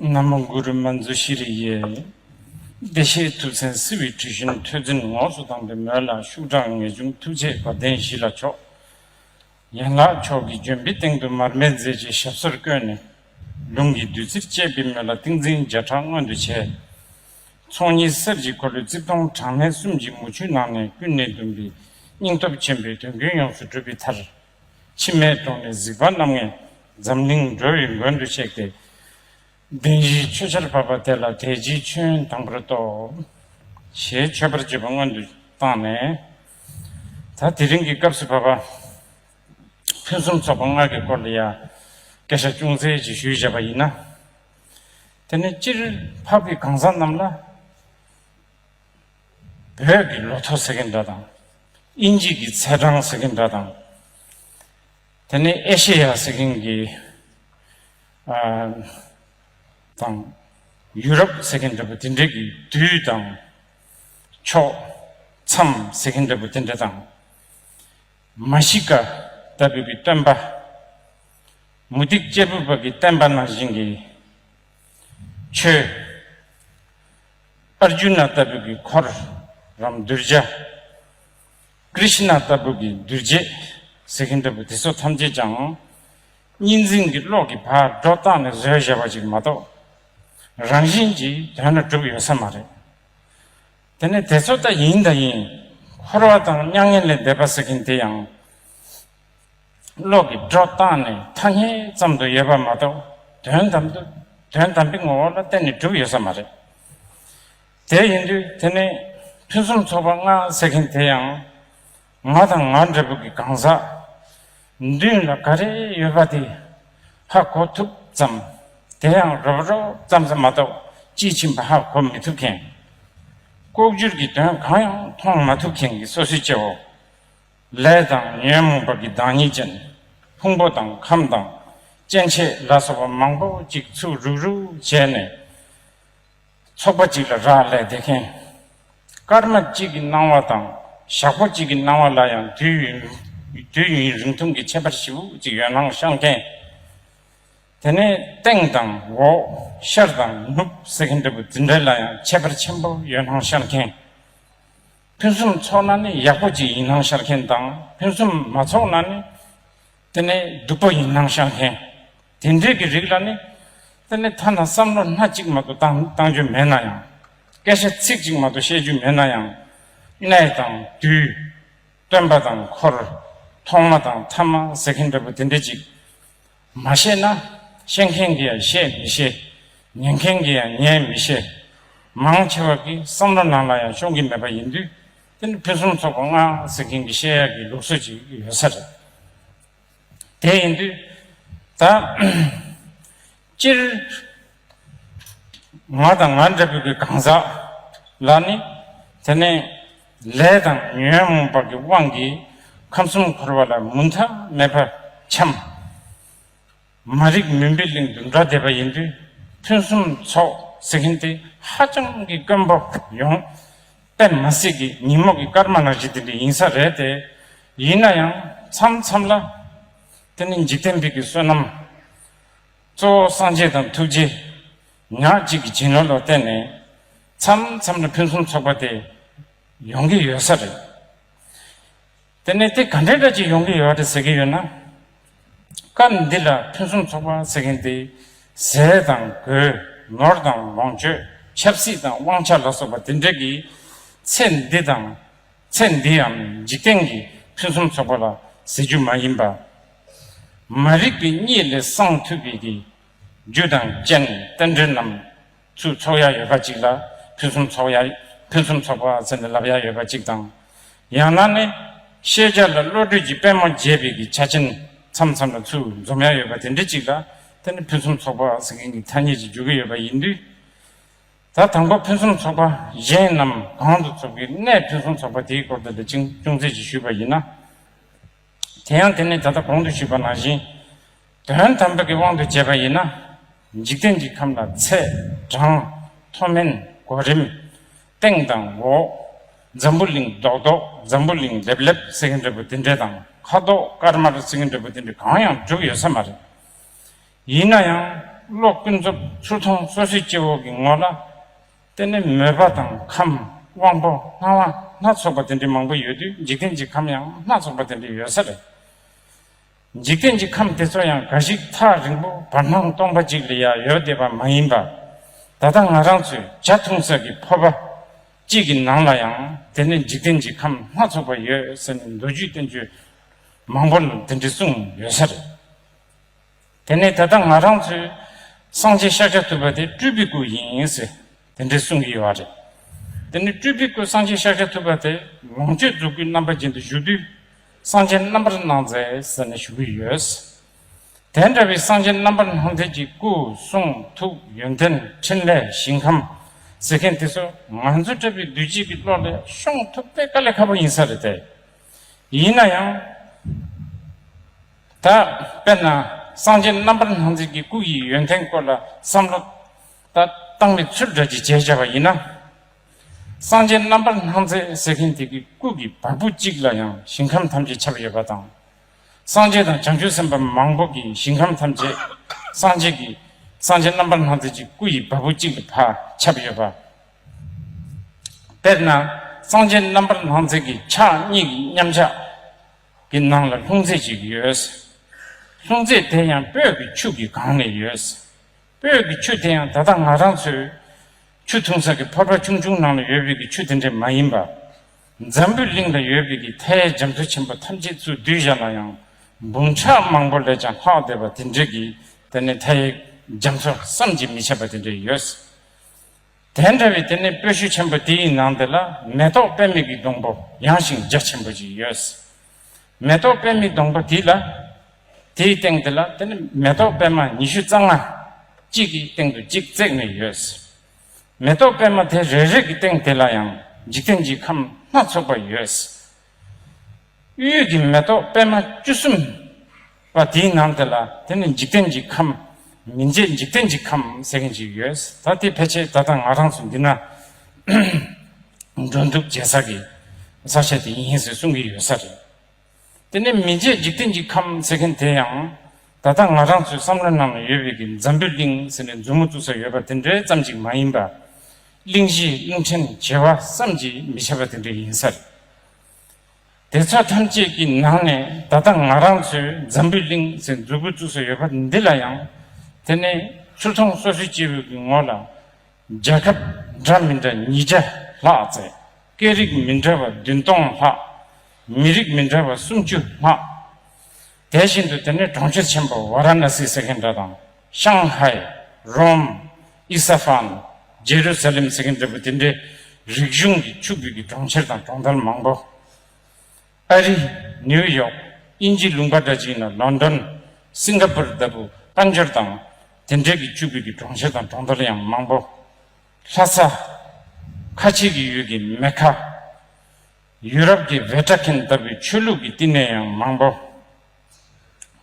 ན་མོ་གུ་རུ་མ་མཛོད་ཤྲི་རི་ཡའི་བདེ་གཤེགས་ཐུགས་མཚན་བསིལ་བའི་དྲི་བཞོན་ཐོད་ཚན་ངོགས་སུ་བཏང་པའི་མོད་ལ་ཤུགས་དྲག་ངེས་འབྱུང་ཐུགས་བསྐྱེད་བ་དན་བཞི་ལ་ཕྱོགས། ཡན་ལག་མཆོག་གི་ལྗོན་པའི་སྟེང་དུ་མར་མེ་མཛད་ཅིང་ཞབས་སོར་བཀོད་ནས། ལུང་གི་བདུད་རྩིར་བཅས་པའི་མོད་ལ་ཏིང་འཛིན་བརྒྱ་ཕྲག་མངོན་དུ་བྱས། ཚོགས་གཉིས་གསེར་གྱི་འཁོར་ལོའི་རྩིབས་སྟོང་གྲངས་མེད་གསུམ་གྱི་མུ་ཁྱུད་ནང་ནས་ཀུན་ནས་བཟླུམས་པའི་སྙིང་སྟོབས་ཆེན་པོས་དོན་ཀུན་ཡོངས་སུ་གྲུབ་པའི་མཐར། མཆི་མའི་གདོང་ནས་གཟིགས་པ་རྣམ་ལྔས་འཛམ་གླིང་འགྲོ་བའི་མགོན་དུ་གཤེགས་ཏེ། གདན་བཞིའི་མཆོད་ཆར་བབས་པ་དེ་ལ་དལ་གྱིས་མཆོད་དང་པོར་གཏོགས། ཞེས་མཆོད་པར་བྱེད་པ་སྔོན་དུ་བཏང་ནས། ད་དེ་རིང་གི་སྐབས་སུ་བབས་པ། ཕུན་སུམ་ཚོགས་པ་སྔགས་ཀྱི་སྐོར་ལ་ཡང་བཀའ་ཤག་ཅུང་ཟད་ཅིག་ཞུས་བཞག་པ་ཡིན་ན། དེ་ནས་སྤྱིར་ཕག་པའི་གང་ཟག་རྣམས་ལ། བོད་ཀྱི་ལོ་ཐོ་ཟེར་གྱི་འདྲ་དང། དབྱིན་ཇིས་ཀྱི་ཚེས་གྲངས་ཟེར་གྱི་འདྲ་དང། དེ་ནས་ཨེ་ཤེ་ཡ་ཟེར་གྱིན་གྱི། དང། ཡུ་རོབ་ཟེར་གྱི་འདྲ་པོ་དེ་འདྲ་གི་དུས་དང། ཕྱོགས། མཚམས་ཟེར་གྱི་འདྲ་པོ་དེ་འདྲ་དང། མ་གཞི་ཀ་ད་བོད་ཀྱི་སྟོན་པ། མུ་ཏིག་གཅེར་བུ་བོད་ཀྱི་བསྟན་པ་ནང་བཞིན་གྱི། ཆོས། Arjuna ལྟ་བུ་གྱི་འཁོར་རམ་གདུལ་བྱ། Krishna ལྟ་བུ་གྱི་འདུལ་བྱེད་ཟེར་གྱིན་འདུག་པས་དེ་ཚོ་ཐམས་ཅད་ཀྱང་གཉིས་འཛིན་གྱི་གློག་གི་བར་སྒྲོ་བཏགས་ནས་བཟོས་བཞག་པ་ཅིག་མ་གཏོགས་རང་བཞིན་གྱིས་དོན་ལ་གྲུབ་ཡོད་ས་མ་རེད། དེ་ནས་དེ་ཚོ་ལྟ་ཡིན་དང་ཡིན། འཁོར་བ་དང་མྱ་ངན་ལས་འདས་པ་ཟེར་གྱིན་དེ་ཡང། གློག་གི་སྒྲོག་སྟངས་ནི་ཐ་སྙད་ཙམ་དུ་ཡོད་པ་མ་གཏོགས་དོན་དམ་དུ་དོན་དམ་པའི་ངོ་བོ་ལ་བརྟེན་ནས་གྲུབ་ཡོད་ས་མ་རེད། དེ་ཡིན་དུས་དེ་ནས་ཕུན་སུམ་ཚོགས་པ་ལྔ་ཟེར་མཁན་དེ་ཡང་ང་དང་ང་འདྲ་བོ་གི་གང་ཟག་མདུན་ལ་ག་རེ་ཡོད་པ་དེ་ཧ་གོ་ཐུབ་ཙམ་དེ་ཡང་རོབ་རོབ་ཙམ་ཙམ་མ་གཏོགས་དཔྱིས་ཕྱིན་པ་ཧ་གོ་མི་ཐུབ་མཁན། ལྐོག་གྱུར་གྱི་དོན་གང་ཡང་མཐོང་མ་ཐུབ་མཁན་གྱི་སོ་སོའི་སྐྱེ་བོ། ལས་དང་ཉོན་མོངས་པ་གི་བདག་ཉིད་ཅན། ཕུང་པོ་དང་ཁམས་དང་སྐྱེ་མཆེད་ལ་སོགས་པ་མང་པོ་ཅིག་ཚུགས་རུག་རུག་བྱས་ནས། ཚོགས་པ་གཅིག་ལ་རག་ལས་དེ་མཁན། སྐར་མ་གཅིག་གི་སྣང་བ་དང་ཞག་པོ་གཅིག་གི་སྣང་བ་ལ་ཡང་དུས་ཡུན་རིང་ཐུང་གི་ཁྱད་པར་ཞིབ་འོག་ཅིག་ཡོད་སྣང་ཤར་མཁན། དེ་ནས་སྟེང་དང་འོག་ཤར་དང་ནུབ་ཟེར་མཁན་འདྲ་བུ་དེ་འདྲ་ལ་ཡང་ཁྱད་པར་ཆེན་པོ་ཡོད་སྣང་ཤར་མཁན། ཕུན་སུམ་ཚོགས་ན་ནི་ཡག་པོ་ཅིག་ཡིན་སྣང་ཤར་མཁན་དང་ཕུན་སུམ་མ་ཚོགས་ན་ནི་དེ་ནི་སྡུག་པོ་ཡིན་སྣང་ཤར་མཁན། དེ་འདྲས་ཀྱི་རིགས་ལ་ནི་དེ་ནི་ཐ་ན་བསམ་བློ་སྣ་གཅིག་མ་དུ་བཏང་རྒྱུ་མེད་ན་ཡང། སྐད་ཆ་ཚིག་གཅིག་མ་དུ་བཤད་རྒྱུ་མེད་ན་ཡང། གནས་དང་དུས། སྟོན་པ་དང་འཁོར། ཐོག་མ་དང་ཐ་མ་ཟེར་མཁན་འདྲ་པོ་དེ་འདྲས་ཅིག། མ་ཤེས་ན་ཤེས་མཁན་གྱིས་ཡང་ཤེས་མི་ཤེས། ཉན་མཁན་གྱིས་ཡང་ཉན་མི་ཤེས། མང་ཆེ་བ་གི་བསམ་བློ་ནང་ལ་ཡང་ཤོང་གི་མེད་པ་ཡིན་དུས་དེ་ནི་ཕུན་སུམ་ཚོགས་པ་ལྔ་ཟེར་མཁན་གྱི་བཤད་ཡག་གི་ལུགས་སྲོལ་ཅིག་ཡོད་ས་རེད། དེ་ཡིན་དུས་ད། སྤྱིར་ང་དང་ང་འདྲ་བུ་གི་གང་ཟག་ལ་ནི་དེ་ནས་ལས་དང་ཉོན་མོངས་པ་གི་དབང་གིས་ཁམས་གསུམ་འཁོར་བ་ལ་མུ་མཐའ་མེད་པར་འཁྱམས། མ་རིག་མུན་པའི་གླིང་དུ་འགྲོ་བསྡད་པ་ཡིན་དུས་ཕུན་སུམ་ཚོགས་ཟེར་མཁན་དེ་ཧ་ཅང་གི་དཀོན་པོ་ཡོང། པད་མ་སྲིད་ཀྱི་ཉིན་མོ་གི་སྐར་མ་ནང་བཞིན་དེ་འདྲ་ཡིན་ས་རེད་དེ། ཡིན་ན་ཡང་མཚམས་མཚམས་ལ་དེ་ནི་འཇིག་རྟེན་བི་གི་བསོད་ནམས། གཙོ་བོ་སངས་རྒྱས་དང་ཐུགས་རྗེ། ཉག་གཅིག་གི་བྱིན་རླབས་ལ་བརྟེན་ནས། མཚམས་མཚམས་ལ་ཕུན་སུམ་ཚོགས་པ་དེ། ཡོང་གི་ཡོད་ས་རེད། དེ་ནས་དེ་ག་འདྲའི་སྒྲ་ཅིག་ཡོང་གི་ཡོད་རེད་ཟེར་གྱི་ཡོད་ན། སྐབས་འདི་ལ་ཕུན་སུམ་ཚོགས་པ་ཟེར་མཁན་དེ། ཟས་དང་གོས་ནོར་དང་ལོངས་སྤྱོད་ཆབ་སྲིད་དང་དབང་ཆ་ལ་སོགས་པ་དེ་འདྲ་གི་ཚེ་འདི་དང། ཚེ་འདིའམ་འཇིག་རྟེན་གྱི་ཕུན་སུམ་ཚོགས་པ་ལ་ཟེར་རྒྱུ་མ་ཡིན་པར། མ་རིག་པའི་གཉིད་ལས་སངས་ཐུབ་པའི་དེ། རྒྱུ་དང་རྐྱེན་རྟེན་འབྲེལ་རྣམས་སུ་ཚོགས་ཡ་ཡོད་པ་ཅིག་ལ་ཕུན་སུམ་ཚོགས་ཡ། ཕུན་སུམ་ཚོགས་པ་ཟེར་ནས་ལབ་ཡ་ཡོད་པ་ཅིག་དང། ཡང་ན་ནི། ཤེས་བྱ་ལ་བློ་གྲོས་ཀྱི་པད་མོ་རྒྱས་པའི་གི་ཆ་ཆེན་མཚམས་མཚམས་ལ་ཚུར་འཛོམས་ཡ་ཡོད་པ་དེ་འདྲ་ཅིག་ལ། དེ་ནི་ཕུན་སུམ་ཚོགས་པ་ཟེར་མཁན་གྱི་ཐ་སྙད་ཅིག་འཇོག་གི་ཡོད་པ་ཡིན་དུས། ཟླ་དང་པོ་ཕུན་སུམ་ཚོགས་པ་གཞན་རྣམས་གང་དུ་ཚོགས་ཀྱི་གནས་ཕུན་སུམ་ཚོགས་པ་དེའི་སྐོར་དུ་འདི་ཅིང་ཅུང་ཟད་ཅིག་ཞུས་པ་ཡིན་ན། དེ་ཡང་དེ་ནི་ད་ལྟ་གོང་དུ་ཞུས་པ་ནང་བཞིན་དོན་དམ་པའི་གི་དབང་དུ་བྱས་པ་ཡིན་ན། འཇིག་རྟེན་གྱི་ཁམས་ལ་ཚད་གྲངས་མཐོ་དམན་གོ་རིམ། སྟེང་དང་འོག། འཛམ་བུ་གླིང་རྡོག་རྡོག་འཛམ་བུ་གླིང་ལེབ་ལེབ་ཟེར་གྱི་འདྲ་བུ་དེ་འདྲ་དང་ཁ་དོག་དཀར་དམར་ཟེར་གྱི་འདྲ་བུ་དེ་འདྲ་གང་ཡང་གྲུབ་ཡོད་ས་མ་རེད། ཡིན་ན་ཡང་གློག་ཀུན་རྫོབ་ཆུ་མཐོང་སོ་སོའི་སྐྱེ་བོ་གི་ངོ་ལ་ལྟས་ན་མོས་པ་དང་ཁམས་དབང་པོ་སྣང་བ་སྣ་ཚོགས་པ་དེ་འདྲའི་མང་པོ་ཡོད་དུས་འཇིག་རྟེན་གྱི་ཁམས་ཡང་སྣ་ཚོགས་པ་དེ་འདྲའི་ཡོད་ས་རེད། འཇིག་རྟེན་གྱི་ཁམས་དེ་ཚོ་ཡང་འགའ་ཞིག་ཐག་རིང་པོ་བར་སྣང་སྟོང་པ་གཅིག་ལ་ཡང་ཡོད་བསྡད་པ་མ་ཡིན་པར་ད་ལྟ་ང་རང་ཚོས་བྱ་འཐུང་ས་ཀྱི་ཕོར་པ་གཅིག་གི་ནང་ལ་ཡང་དེ་ནས་འཇིག་རྟེན་གྱི་ཁམས་སྣ་ཚོགས་པ་ཡོད་ཟེར་ནས་མདོ་རྒྱུད་བསྟན་བཅོས་མང་པོ་ལ་དེ་འདྲ་གསུངས་ཡོད་ས་རེད། དེ་ནས་ད་ལྟ་ང་རང་ཚོས་སངས་རྒྱས་ཤཱཀྱ་ཐུབ་པ་དེ་སྤྲུལ་པའི་སྐུ་ཡིན་ཟེར་དེ་འདྲའི་གསུང་གི་ཡོད་རེད། དེ་ནས་སྤྲུལ་པའི་སྐུ་སངས་རྒྱས་ཤཱཀྱ་ཐུབ་པ་དེ་ལོངས་སྤྱོད་རྫོགས་སྐུའི་རྣམ་པ་ཅན་དུ་བཞུགས་དུས་གསང་ཆེན་རྣམ་པར་སྣང་མཛད་ཟེར་ནས་བཞུགས་གི་ཡོད། དེ་འདྲ་བའི་གསང་ཆེན་རྣམ་པར་སྣང་མཛད་ཀྱི་སྐུ་གསུང་ཐུགས་ཡོན་ཏན་ཕྲིན་ལས་ཞིང་ཁམས་ཟེར་མཁན་དེ་ཚོ་ང་ཚོ་འདྲ་བའི་བདུད་བྱེད་ཀྱི་བློ་ལས་ཤོང་ཐུབ་དེ་དཀའ་ལས་ཁག་པོ་ཡིན་ས་རེད་དེ། ཡིན་ན་ཡང། ད་དཔེར་ན་སངས་རྒྱས་རྣམ་པར་སྣང་མཛད་ཀྱི་སྐུ་ཡི་ཡོན་ཏན་སྐོར་ལ་བསམ་བློ་ད་བཏང་བའི་ཚུལ་འདྲ་གཅིག་བྱས་བྱས་པ་ཡིན་ན། སངས་རྒྱས་རྣམ་པར་སྣང་མཛད་ཟེར་མཁན་དེ་གི་སྐུ་གི་བ་སྤུ་གཅིག་ལ་ཡང་ཞིང་ཁམས་ཐམས་ཅད་ཁྱབ་ཡོད་པ་དང། སངས་རྒྱས་དང་བྱང་ཆུབ་སེམས་དཔའ་མང་པོ་གི་ཞིང་ཁམས་ཐམས་ཅད་སངས་རྒྱས་ཀྱི་སངས་རྒྱས་རྣམ་པར་སྣང་མཛད་ཀྱི་སྐུ་ཡི་བ་སྤུ་གཅིག་ལ་བ་ཁྱབ་ཡོད་པ། དཔེར་ན་གཙང་ཆེན་རྣམ་པར་སྣང་མཛད་ཀྱི་ཕྱག་གཉིས་ཀྱི་མཉམ་གཞག་གི་ནང་ལ་ལྷུང་བཟེད་ཅིག་ཡོད། ལྷུང་བཟེད་དེ་ཡང་སྤོས་ཀྱི་ཆུ་གིས་གང་ནས་ཡོད། སྤོས་ཀྱི་ཆུ་དེ་ཡང་ད་ལྟ་ང་རང་ཚོའི་ཆུ་འཐུང་ས་ཀྱི་ཕོར་པ་ཆུང་ཆུང་ནང་ལ་ཡོད་པའི་ཀྱི་ཆུ་དེ་འདྲས་མ་ཡིན་པ། འཛམ་བུའི་གླིང་ལ་ཡོད་པའི་ཀྱི་མཐའི་འཇམ་མཚོ་ཆེན་པོ་ཐམས་ཅད་ཚུར་བསྡུས་བཞག་ན་ཡང་འབུམ་ཕྲག་མང་པོ་ལས་ཀྱང་ལྷག་བསྡད་པ་དེ་འདྲས་ཀྱི་དེ་ནི་མཐའི་འཇམ་མཚོ་བསམ་གྱིས་མི་ཁྱབ་པ་དེ་འདྲས་ཡོད། དེ་འདྲ་བའི་དེ་ནས་སྤོས་ཤུལ་ཆེན་པོ་དེའི་ནང་དེ་ལ་མེ་ཏོག་དཔེ་མིག་གི་སྡོང་པོ་ཡངས་ཤིང་རྒྱ་ཆེན་པོ་ཅིག་ཡོད། མེ་ཏོག་དཔེ་མིག་སྡོང་པོ་དེ་ལ་དེའི་སྟེང་དེ་ལ་དེ་ནི་མེ་ཏོག་པད་མ་ཉི་ཤུ་རྩ་ལྔ། གཅིག་གི་སྟེང་དུ་གཅིག་བརྩེགས་ནས་ཡོད། མེ་ཏོག་པད་མ་དེ་རེ་རེ་གི་སྟེང་དེ་ལ་ཡང་འཇིག་རྟེན་གྱི་ཁམས་སྣ་ཚོགས་པ་ཡོད། དབུས་ཡུལ་གྱི་མེ་ཏོག་པད་མ་བཅུ་གསུམ་པ་དེའི་ནང་དེ་ལ་དེ་ནི་འཇིག་རྟེན་གྱི་ཁམས་མི་མཇེད་འཇིག་རྟེན་གྱི་ཁམས་ཟེར་མཁན་ཞིག་ཡོད་ད་དེ་ཕལ་ཆེར་ད་ལྟ་ང་རང་ཚོ་འདི་ན་འགྲོ་འདུག་བྱེད་ས་ཀྱི་ས་ཆ་དེ་ཡིན་ཟེར་གསུང་གི་ཡོད་ས་རེད། དེ་ནི་མི་མཇེད་འཇིག་རྟེན་གྱི་ཁམས་ཟེར་མཁན་དེ་ཡང་ད་ལྟ་ང་རང་ཚོའི་བསམ་བློའི་ནང་ན་ཡོད་པའི་གི་འཛམ་བུའི་གླིང་ཟེར་ནས་མཛུབ་མོ་བཙུགས་ས་ཡོད་པ་དེ་འདྲའི་ཙམ་ཅིག་མ་ཡིན་པ། གླིང་བཞིའི་གླིང་ཕྲན་བྱེ་བ་བསམ་གྱིས་མི་ཁྱབ་པ་དེ་འདྲ་ཡིན་ས་རེད། དེ་ཚོ་ཐམས་ཅད་ཀྱི་ནང་ནས་ད་ལྟ་ང་རང་ཚོའི་འཛམ་བུའི་གླིང་ཟེར་འཛུགས་དགོས་བཅུག་ས་ཡོད་པ་འདི་ལ་ཡང་དེ་ནི་ཆུ་ཚོང་སོ་སོའི་སྐྱེས་བུ་གི་ངོ་ལ་རྒྱལ་ཁབ་འདྲ་མི་འདྲ་ཉིས་བརྒྱ་ལྷག་བརྩད་སྐད་རིགས་མི་འདྲ་བ་བདུན་སྟོང་ལྷག་མི་རིགས་མི་འདྲ་བ་སུམ་ཅུ་ལྷག། དེ་བཞིན་དུ་དེ་ནས་གྲོང་ཁྱེར་ཆེན་པོ་བཱ་ར་ན་སི་ཟེར་མཁན་འདྲ་དང། ཤང་ཧའི། རོམ། ཨི་ས་ཧྥན། རྗེ་རུ་ས་ལེམ་ཟེར་མཁན་འདྲ་བུ་དེ་འདྲའི་རིག་གཞུང་གི་ཆུ་བོད་ཀྱི་གྲོང་ཁྱེར་དང་གྲོང་རྡལ་མང་པོ། ཨ་རི། ནིའུ་ཡོག། དབྱིན་ཇིའི་ལུང་པ་འདྲ་ཅིག་ཡིན་ན་ལོན་ཏོན། སིང་ག་པུར་ལྟ་བུ་དཀར་འབྱོར་དང། དེ་འདྲའི་གི་ཆུ་བོད་ཀྱི་གྲོང་ཁྱེར་དང་གྲོང་རྡལ་ཡང་མང་པོ། ལྷ་ས། ཁ་ཆེ་གི་ཡུལ་གྱི་མེ་ཁ། ཡུ་རོབ་ཀྱི་བྷེ་ཏྲ་ཁིན་ལྟ་བུའི་ཆོས་ལུགས་ཀྱི་བསྟི་གནས་ཡང་མང་པོ་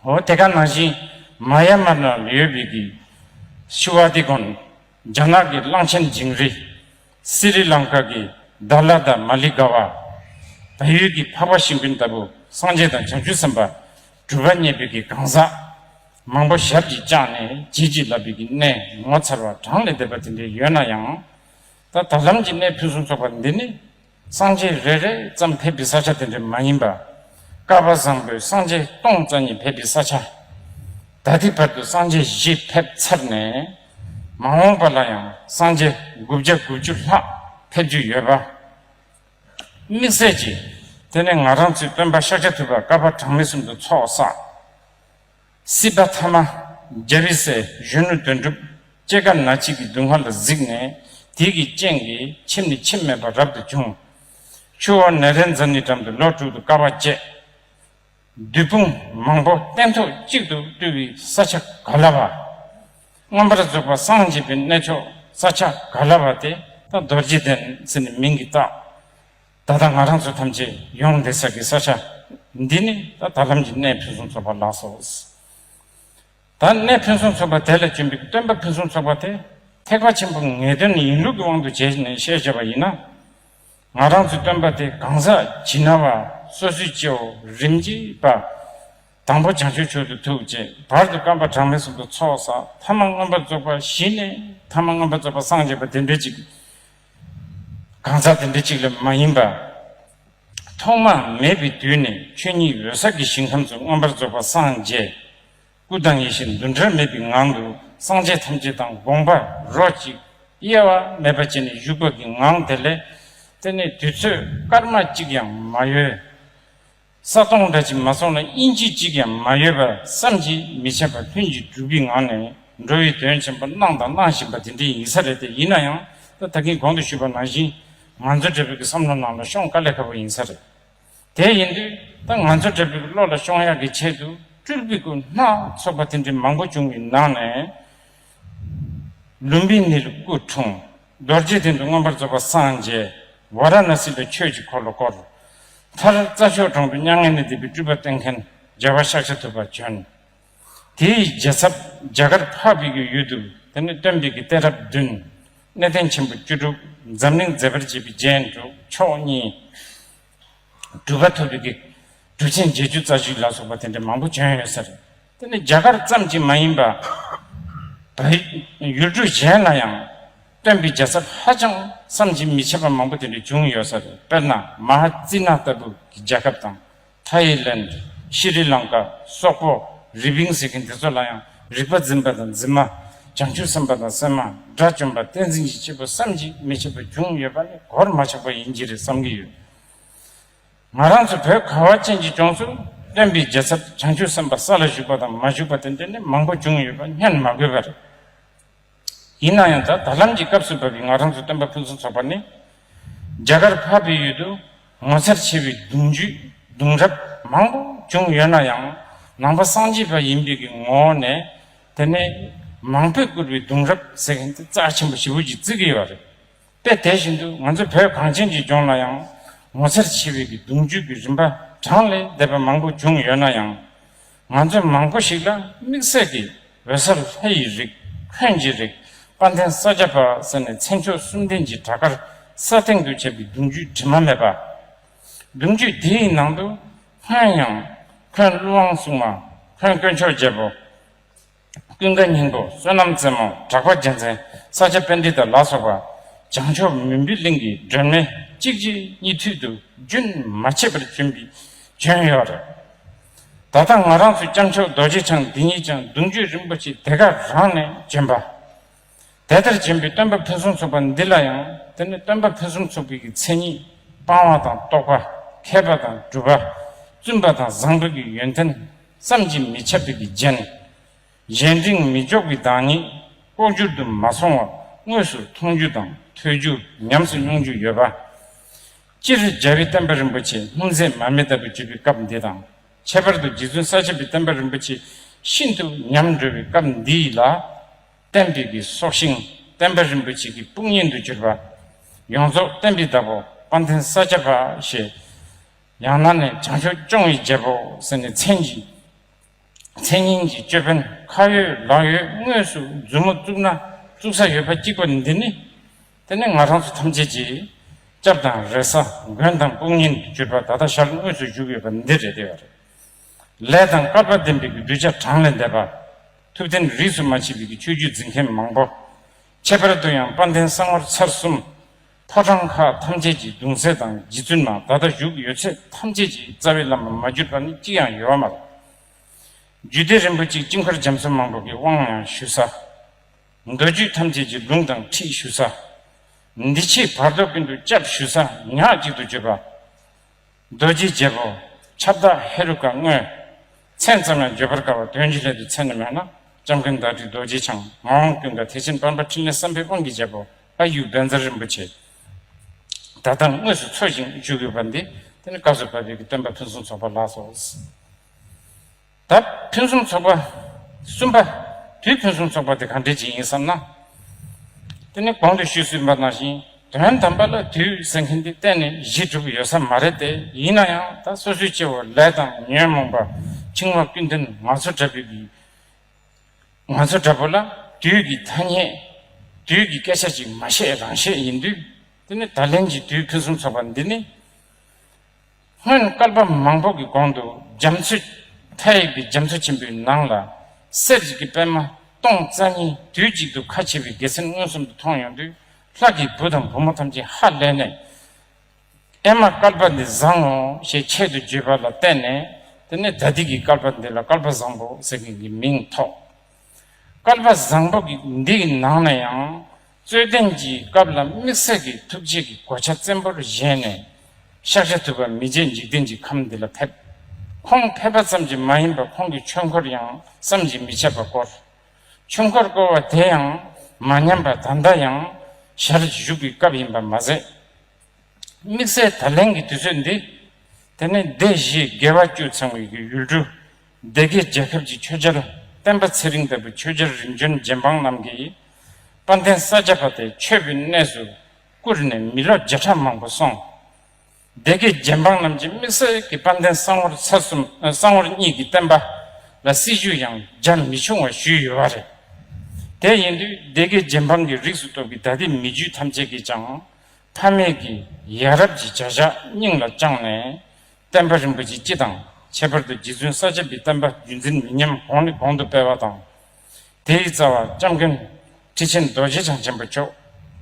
འོ་དེ་ག་ནང་བཞིན་མ་ཡ་མར་ན་ལ་ཡོད་བིག་གི་ཤི་བྷ་ཏི་གོན་རྒྱ་ནག་གི་གླང་ཆེན་ཇིང་རི་སི་རི་ལང་ཀ་གི་རྡ་ལ་དང་མ་ལི་ག་བ་བལ་ཡུལ་གྱི་འཕགས་པ་ཤིང་ཕིན་ལྟ་བུ་སངས་རྒྱས་དང་བྱང་ཆུབ་སེམས་དཔའ་གྲུབ་པ་བརྙེས་བིག་གི་གང་ཟག་མང་པོ་ཞབས་ཀྱིས་བཅགས་ནས་བྱིལ་བྱིལ་ལ་བིག་གི་གནས་ངོ་མཚར་བ་གྲངས་ལས་འདས་པ་དེ་འདྲའི་ཡོད་ན་ཡང་ད་ད་ལམ་གྱི་གནས་ཕུན་སུམ་ཚོགས་པ་འདི་ནི། སངས་རྒྱས་རེ་རེ་ཙམ་ཕེབས་པའི་ས་ཆ་དེ་འདྲ་མ་ཡིན་པ། ཀ་བ་བཟང་པོས་སངས་རྒྱས་སྟོང་རྩ་གཉིས་ཕེབས་པའི་ས་ཆ། ད་ལྟའི་བར་དུ་སངས་རྒྱས་བཞི་ཕེབས་ཚར་ནས། མ་འོངས་པ་ལ་ཡང་སངས་རྒྱས་དགུ་བརྒྱ་དགུ་བཅུ་ལྷག་ཕེབས་རྒྱུ་ཡོད་པ། དམིགས་བསལ་གྱིས་དེ་ནི་ང་རང་ཚོའི་སྟོན་པ་ཤཱཀྱ་ཐུབ་པ་ཀ་བ་གྲངས་མེད་གསུམ་དུ་ཚོགས་བསགས། སྲིད་པ་ཐ་མ་རྒྱ་རི་སའི་གཞོན་ནུ་དོན་གྲུབ་ཅེ་དགའ་ན་གཅིག་གི་མདུན་ཧ་ལ་གཟིགས་ནས་དེ་གི་སྤྱན་གི་ཕྱིར་ནི་ཕྱིར་མེད་པར་རབ་ཏུ་བྱུང། ཆུ་བོ་ནེ་རེ་འཛམ་ནི་འགྲམ་དུ་ལོ་དྲུག་ཏུ་དཀའ་བ་སྤྱད། བདུད་དཔུང་མང་པོ་སྟན་ཐོག་གཅིག་ཏུ་བཏུལ་བའི་ས་ཆ་ག་ལ་བ། རྔམ་པར་རྫོགས་པ་སངས་རྒྱས་པའི་གནས་མཆོག་ས་ཆ་ག་ལ་བ་དེ་ད་རྡོ་རྗེ་གདན་ཟེར་ནས་མིང་གིས་བཏགས། ད་ལྟ་ང་རང་ཚོ་ཐམས་ཅད་ཡོངས་འདི་ཟེར་གི་ས་ཆ་འདི་ནི་ད་ད་ལམ་གྱི་གནས་ཕུན་སུམ་ཚོགས་པ་ལགས་སོ། ད་གནས་ཕུན་སུམ་ཚོགས་པ་དེ་ལ་བྱོན་པའི་སྟོན་པ་ཕུན་སུམ་ཚོགས་པ་དེ་ཐེག་པ་ཆེན་པོ་ངེས་དོན་ཡིན་ལུགས་ཀྱི་དབང་དུ་བྱས་ནས་བཤད་བྱས་པ་ཡིན་ན། ང་རང་ཚོའི་སྟོན་པ་དེ་གང་ཟག་ཇི་ན་བ་སོ་སོའི་སྐྱེའོ་རིམ་གྱིས་པ། དང་པོ་བྱང་ཆུབ་ཆོས་ཏུ་ཐུགས་བཅས་བར་དུ་བཀའ་པ་གྲངས་མེད་གསུངས་པའི་ཚོགས་བསགས་ཐ་མ་མངོན་པར་རྫོགས་པ་བཞི་ནས་ཐ་མ་མངོན་པར་རྫོགས་པ་སངས་རྒྱས་པ་བདེན་པའི་ཅིག་གང་ཟག་དེ་འདི་གཅིག་ལས་མ་ཡིན་པ། ཐོག་མ་མེད་པའི་དུས་ནས་ཆོས་ཉིད་འོད་གསལ་གྱི་ཞིང་ཁམས་སུ་མངོན་པར་རྫོགས་པར་སངས་རྒྱས། སྐུ་དང་ཡེ་ཤེས་འདུ་འབྲལ་མེད་པའི་ངང་དུ་སངས་རྒྱས་ཐམས་ཅད་དང་དགོངས་པ་རོ་གཅིག། དབྱེ་བ་མེད་པར་བྱས་ནས་བཞུགས་པ་གི་ངང་དེ་ལས། དེ་ནས་དུས་ཚོད་སྐར་མ་གཅིག་ཡང་མ་ཡོལ། ས་སྟོང་འདྲ་ཅིག་མ་སོང་ན་དབྱིན་ཇི་གཅིག་ཀྱང་མ་ཡོད་པ་བསམ་གྱིས་མི་ཁྱབ་པ་ལྷུན་གྱིས་གྲུབ་པའི་ངང་ནས་འགྲོ་བའི་དོན་ཆེན་པོ་གནང་དང་གནང་བཞིན་པ་དེ་འདྲའི་ཡིན་ས་རེད་དེ་ཡིན་ན་ཡང་ད་ད་གིན་གོང་དུ་ཞུས་པ་ནང་བཞིན་ང་ཚོ་འདྲ་པོའི་གི་བསམ་བློ་ནང་ལ་ཤོང་དཀའ་ལས་ཁ་པོ་ཡིན་ས་རེད་དེ་ཡིན་དུས་ད་ང་ཚོ་འདྲ་པོའི་གི་བློ་ལ་ཤོང་ཡག་གི་ཆེད་དུ་སྤྲུལ་པའི་སྐུ་སྣ་ཚོགས་པ་དེ་འདྲའི་མང་པོ་བྱུང་བའི་ནང་ནས། ལུམ་བི་ནི་ལ་སྐུ་འཁྲུངས། རྡོ་རྗེའི་གདན་དུ་མངོན་པར་རྫོགས་པ་སངས་རྒྱས་ཝཱ་ར་ཎཱ་སི་པའི་ཆོས་ཀྱི་འཁོར་ལོ་བསྐོར། མཐར་རྩྭ་ཤོག་གྲོང་དུ་མྱ་ངན་ལས་འདས་པའི་སྤྲུལ་པ་བསྟེན་མཁན་རྒྱལ་བ་ཤཱཀྱ་ཐུབ་པ་བྱོན། དེའི་རྒྱལ་ཚབ་རྒྱ་གར་འཕགས་པའི་གཡུ་ཡུལ་དུ་དེ་ནས་སྟོན་པའི་གི་སྟེ་རབས་བདུན། གནས་བརྟན་ཆེན་པོ་བཅུ་དྲུག་འཛམ་གླིང་མཛེས་པར་བྱེད་པའི་རྒྱན་དྲུག་མཆོག་གཉིས། གྲུ་ག་ཐོད་པའི་གྲུ་ཆེན་བརྒྱད་ཅུ་རྩ་བཞི་ལ་སོགས་པ་དེ་འདྲ་མང་པོ་བྱོན་ཡོད་ས་རེད། དེ་ནི་རྒྱ་གར་ཙམ་གྱིས་མ་ཡིན་པར། བལ་ཡུལ་གྲུ་གཞན་ལ་ཡང་སྟོན་པའི་རྒྱལ་ཚབ་ཧ་ཅང་བསམ་གྱིས་མི་ཁྱབ་པ་མང་པོ་དེ་འདྲ་བྱུང་ཡོད་ས་རེད། དཔེར་ན་མ་ཧ་ཙི་ནཱ་ལྟ་བུ་གི་རྒྱལ་ཁབ་དང། Thailand། Sri Lanka། སོག་པོ། རི་བིང་ཟེར་མཁན་དེ་ཚོ་ལ་ཡང། རིག་པ་འཛིན་པ་དང་འཛིན་མ། བྱང་ཆུབ་སེམས་དཔའ་དང་སེམས་མ། དགྲ་བཅོམ་པ་བསྟན་འཛིན་གྱི་བྱེད་པོ་བསམ་གཞིག་མི་བྱེད་པ་བྱུང་ཡོད་པ་ནི་གོར་མ་ཆག་པ་ཡིན་གྱི་རེད་བསམ་གྱི་ཡོད། ང་རང་ཚོ་བོད་ཁ་བ་ཅན་གྱི་ལྗོངས་སུ་སྟོན་པའི་རྒྱལ་ཚབ་བྱང་ཆུབ་སེམས་དཔའ་ས་ལ་བཞུགས་པ་དང་མ་བཞུགས་པ་དེ་འདྲ་ནི་མང་པོ་བྱུང་ཡོད་པ་བསྙོན་མ་དགོས་པ་རེད། ཡིན་ན་ཡང་ད་ལམ་གྱི་སྐབས་སུ་བབས་པའི་ང་རང་ཚོའི་སྟོན་པ་ཕུན་སུམ་ཚོགས་པ་ནི། རྒྱ་གར་ཕ་བོད་ཡུལ་དུ་ངོ་མཚར་ཆེ་བའི་གདུང་རྒྱུད་གདུང་རབས་མང་པོ་བྱུང་ཡོད་ན་ཡང་ནང་པ་སངས་རྒྱས་པ་ཡིན་པའི་གི་ངོ་བོ་ནས་དེ་ནས་མང་པོས་བསྐུར་བའི་གདུང་རབས་ཟེར་མཁན་དེ་རྩ་ཆེན་པོ་ཞི་བོ་ཇི་ཙི་གི་ཡོད་རེད་པས་དེ་བཞིན་དུ་ང་ཚོ་བོད་གངས་ཅན་གྱི་ལྗོངས་ལ་ཡང་ངོ་མཚར་ཆེ་བའི་གི་གདུང་རྒྱུད་ཀྱི་རིམ་པ་གྲངས་ལས་འདས་པ་མང་པོ་བྱུང་ཡོད་ན་ཡང། ང་ཚོས་མང་པོ་ཞིག་ལ་དམིགས་བསལ་གྱི་འོད་ཟེར་ལྷ་ཡི་རིགས་ཁྱོན་གྱི་རིགས་དཔའ་མཐིང་ས་བརྒྱ་པ་ཟེར་ནས་མཚན་མཆོག་གསུམ་ལྡན་གྱི་བྲག་དཀར་ས་སྟེང་དུ་བྱབ་པའི་གདུང་རྒྱུད་དྲི་མ་མེད་པ། གདུང་རྒྱུད་དེའི་ནང་དུ་ཁོན་ཡང། ཁོན་ཀླུ་དབང་སྲུང་མ། ཁོན་དཀོན་མཆོག་རྒྱལ་པོ། ཀུན་དགའ་སྙིང་པོ་བསོད་ནམས་རྩེ་མོ་གྲགས་པ་རྒྱལ་མཚན་ས་སྐྱ་དཔལ་འདི་དར་ལ་སོགས་པ། བྱང་ཕྱོགས་མུན་པའི་གླིང་གི་སྒྲོན་མེ་གཅིག་རྗེས་གཉིས་མཐུད་དུ་རྒྱུན་མ་ཆད་པར་བྱོན་པའི་བྱོན་ཡོད་རེད། ད་ལྟ་ང་རང་ཚོའི་སྐྱབས་མཆོག་རྡོ་རྗེ་འཆང་འདི་ཉིད་ཀྱང་གདུང་རྒྱུད་རིན་པོ་ཆེའི་དེ་ག་རང་ནས་བྱོན་པ། དེ་ལྟར་སྦྱིན་པའི་སྟོན་པ་ཕུན་སུམ་ཚོགས་པ་འདི་ལ་ཡང་དེ་ནི་སྟོན་པ་ཕུན་སུམ་ཚོགས་པའི་ཀྱི་མཚན་ཉིད་སྤང་བ་དང་རྟོགས་པ་མཁས་པ་དང་སྒྲུབ་པ་བཙུན་པ་དང་བཟང་པོའི་ཀྱི་ཡོན་ཏན་བསམ་གྱིས་མི་ཁྱབ་པའི་ཀྱི་རྒྱན། གཞན་དྲིང་མི་འཇོག་པའི་བདག་ཉིད་ལྐོག་གྱུར་དུ་མ་སོང་བ་དངོས་སུ་མཐོང་རྒྱུ་དང་ཐོས་རྒྱུ་ཉམས་སུ་མྱོང་རྒྱུ་ཡོད་པ། སྤྱིར་རྒྱལ་བའི་བསྟན་པ་རིན་པོ་ཆེ་སྔོན་ཚད་མ་མེ་ལྟ་བུ་བརྗོད་པའི་སྐབས་འདི་དང་ཁྱད་པར་དུ་རྗེ་བཙུན་ས་སྐྱ་པའི་བསྟན་པ་རིན་པོ་ཆེ་ཤིན་ཏུ་ཉམས་དགྲོལ་བའི་སྐབས་འདི་ཡིད་ལ་བསྟན་འདས་ཀྱི་སྲོག་ཤིང་བསྟན་པ་རིན་པོ་ཆེ་གི་དཔུང་གཉེན་དུ་གྱུར་པ། ཡོངས་རྫོགས་བསྟན་པའི་བདག་པོ་དཔའ་འཐེན་ས་སྐྱ་པ་ཞེས། ཡང་ན་ནས་བྱང་ཆུབ་སྐྱོང་བའི་རྒྱལ་པོ་ཟེར་ནས་མཚན་གྱི། མཚན་སྙན་གྱི་ཅོད་པན་ཁ་ཡོད་ལག་ཡོད་དངོས་སུ་མཛུབ་མོ་བཙུགས་ན་བཙུགས་ས་ཡོད་པ་གཅིག་པ་འདི་ནི། དེ་ནི་ང་རང་ཚོ་ཐམས་ཅད་ཀྱིས། སྐྱབས་དང་རེ་ས་མགོན་དང་དཔུང་གཉེན་དུ་གྱུར་པ་ད་ལྟ་ཞར་དངོས་སུ་བཞུགས་ཡོད་པ་འདི་རེད་བསྡད་པ་རེད། ལས་དང་སྐལ་པ་ལྡན་པའི་གདུལ་བྱ་གྲངས་ལས་འདས་པ། ཐུབ་བསྟན་རིས་སུ་མ་མཆིས་པའི་ཆོས་བརྒྱུད་འཛིན་མཁན་མང་པོ། ཁྱད་པར་དུ་ཡང་དཔལ་ལྡན་གསང་བར་ཚར་གསུམ། ཕོ་བྲང་ཁག་ཐམས་ཅད་ཀྱི་གདུང་སྲས་དང་རྗེ་བཙུན་མ་ད་ལྟ་བཞུགས་ཡོད་ཚད་ཐམས་ཅད་ཀྱི་རྩ་བའི་བླ་མ་མ་གྱུར་པ་ནི་གཅིག་ཡང་ཡོད་བ་མ་རེད། རྒྱུད་སྡེ་རིན་པོ་ཆེའི་དཀྱིལ་འཁོར་འཇམ་གསུམ་མང་པོ་གི་དབང་ཡང་ཞུ་ས། མདོ་རྒྱུད་ཐམས་ཅད་ཀྱི་ལུང་དང་ཁྲིད་ཞུ་ས། འདི་ཕྱིའི་བར་དོ་ཀུན་ཏུ་སྐྱབས་ཞུ་ས་ཉག་གཅིག་ཏུ་གྱུར་པ། རྡོ་རྗེའི་རྒྱལ་པོ་ཁྱབ་བདག་ཧེ་རུ་ཀ་དངོས། མཚན་ཙམ་ཡང་བརྗོད་པར་དཀའ་བ་དོན་གྱི་སླད་དུ་མཚན་ནི་མེད་ན་ལྕམ་སྐུ་མདའ་དྲིལ་རྡོ་རྗེ་འཆང་མ་དབང་ཀུན་དགའ་ཐེག་ཆེན་དཔལ་འབར་ཕྲིན་ལས་བསམ་འཕེལ་དབང་གི་རྒྱལ་པོ་ཨ་ཡུ་བན་ཛར་རིན་པོ་ཆེ་ད་ལྟ་དངོས་སུ་འཚོལ་ཞིང་བཞུགས་ཡོད་པ་འདི་ནི་བཀའ་སྩོལ་བ་བོད་ཀྱི་སྟོན་པ་ཕུན་སུམ་ཚོགས་པ་ལགས་སོ། དབ་ཕུན་སུམ་ཚོགས་པ། གསུམ་པ། དུས་ཕུན་སུམ་ཚོགས་པ་དེ་གང་འདྲའི་རྗེས་ཡིན་བསམ་ན། དེ་ནི་གོང་དུ་ཞུས་ཟིན་པ་ནང་བཞིན་དོན་དམ་པ་ལ་དུས་ཟེར་མཁན་དེ་གཏན་ནས་གཞི་གྲུབ་ཡོད་ས་མ་རེད་དེ་ཡིན་ན་ཡང་ད་སོ་སོའི་སྐྱེ་བོ་ལས་དང་ཉོན་མོངས་པ་འཆིང་བ་ཀུན་འདུན་ང་ཚོ་འདྲ་བུ་གི་ང་ཚོ་འདྲ་བུ་ལ་དུས་ཀྱི་ཐ་སྙད་དུས་ཀྱི་སྐད་ཆ་ཅིག་མ་བཤད་རང་བཤད་ཡིན་དུས་དེ་ནི་ད་ལན་གྱི་དུས་ཕུན་སུམ་ཚོགས་པ་འདི་ནི། སྔོན་བསྐལ་པ་མང་པོ་གི་གོང་དུ་རྒྱ་མཚོའི་མཐའ་ཡས་པའི་རྒྱ་མཚོ་ཆེན་པོའི་ནང་ལ་གསེར་གྱི་གི་པད་མ་སྟོང་རྩ་གཉིས་དུས་གཅིག་ཏུ་ཁ་ཕྱེ་བའི་དགེ་མཚན་མངོན་སུམ་དུ་མཐོང་ཡོང་དུས་ལྷ་ཀྱི་བུ་དང་བུ་མོ་ཐམས་ཅད་ཧ་ལས་ནས། ཨེ་མ་བསྐལ་པ་འདི་བཟང་ངོ་ཞེས་ཆེད་དུ་བརྗོད་པ་ལ་བརྟེན་ནས་དེ་ནས་ད་ཏིག་གི་བསྐལ་པ་འདི་ལ་བསྐལ་པ་བཟང་པོ་ཟེར་མཁན་གྱི་མིང་ཐོགས། བསྐལ་པ་བཟང་པོ་འདི་ཡི་ནང་ན་ཡང་རྩོད་ལྡན་གྱི་སྐབས་ལ་དམིགས་བསལ་གྱི་ཐུགས་རྗེ་གི་གོ་ཆ་བཙན་པོར་བཞེས་ནས་ཤཱཀ་ཤ་ཐུབ་པ་མི་རྗེ་འཇིག་རྟེན་གྱི་ཁམས་འདི་ལ་ཕེབས། ཁོང་ཕེབས་པ་ཙམ་གྱིས་མ་ཡིན་པར་ཁོང་གི་ཆོས་འཁོར་ཡང་བསམ་གྱིས་མི་ཁྱབ་པ་བསྐོར། ཆོས་འཁོར་བསྐོར་བ་དེ་ཡང་མ་ཉམས་པར་ད་ལྟ་ཡང་ཞར་བཞུགས་ཀྱི་སྐབས་ཡིན་པར་མ་ཟད། དམིགས་བསལ་ད་ལན་གྱི་དུས་ཚོད་འདི་དེ་ནི་སྡེ་བཞིའི་དགེ་བ་བཅུ་ཚང་བའི་གྱི་ཡུལ་གྲུ་སྡེ་དགེ་རྒྱལ་ཁབ་ཀྱི་ཆོས་རྒྱལ་བསྟན་པ་ཚེ་རིང་ལྟ་བུ་ཆོས་རྒྱལ་རིམ་བྱོན་རྗེ་འབངས་རྣམས་ཀྱིས་དཔལ་ལྡན་ས་སྐྱ་པ་དེ་ཆོས་ཀྱི་གནས་སུ་བཀུར་ནས་མི་ལོ་བརྒྱ་ཕྲག་མང་པོ་སོང། སྡེ་དགེ་རྒྱལ་འབངས་རྣམས་ཀྱིས་དམིགས་བསལ་གྱི་དཔལ་ལྡན་གསང་བོར་ཚ་གསུམ་གསང་བོར་གཉིས་ཀྱི་བསྟན་པ་ལ་སྲིད་ཇུས་ཡང་རྒྱ་མི་ཆུང་བ་ཞུས་ཡོད་པ་རེད། དེ་ཡིན་དུས་སྡེ་དགེ་རྗེ་འབངས་ཀྱི་རིགས་སུ་གཏོགས་པའི་ད་ལྟའི་མི་རྒྱུད་ཐམས་ཅད་ཀྱིས་ཀྱང་ཕ་མེས་ཀྱི་ཡ་རབས་ཀྱི་བྱ་བཞག་སྙིང་ལ་བཅངས་ནས། བསྟན་པ་རིན་པོ་ཆེ་སྤྱི་དང་ཁྱད་པར་དུ་རྗེ་བཙུན་ས་སྐྱ་པའི་བསྟན་པ་རྒྱུད་འཛིན་མི་ཉམས་གོང་ནས་གོང་དུ་སྤེལ་བ་དང། དེའི་རྩ་བ་ལྕམ་མཁན་ཁྲི་ཆེན་རྡོ་རྗེ་འཆང་ཆེན་པོ་མཆོག་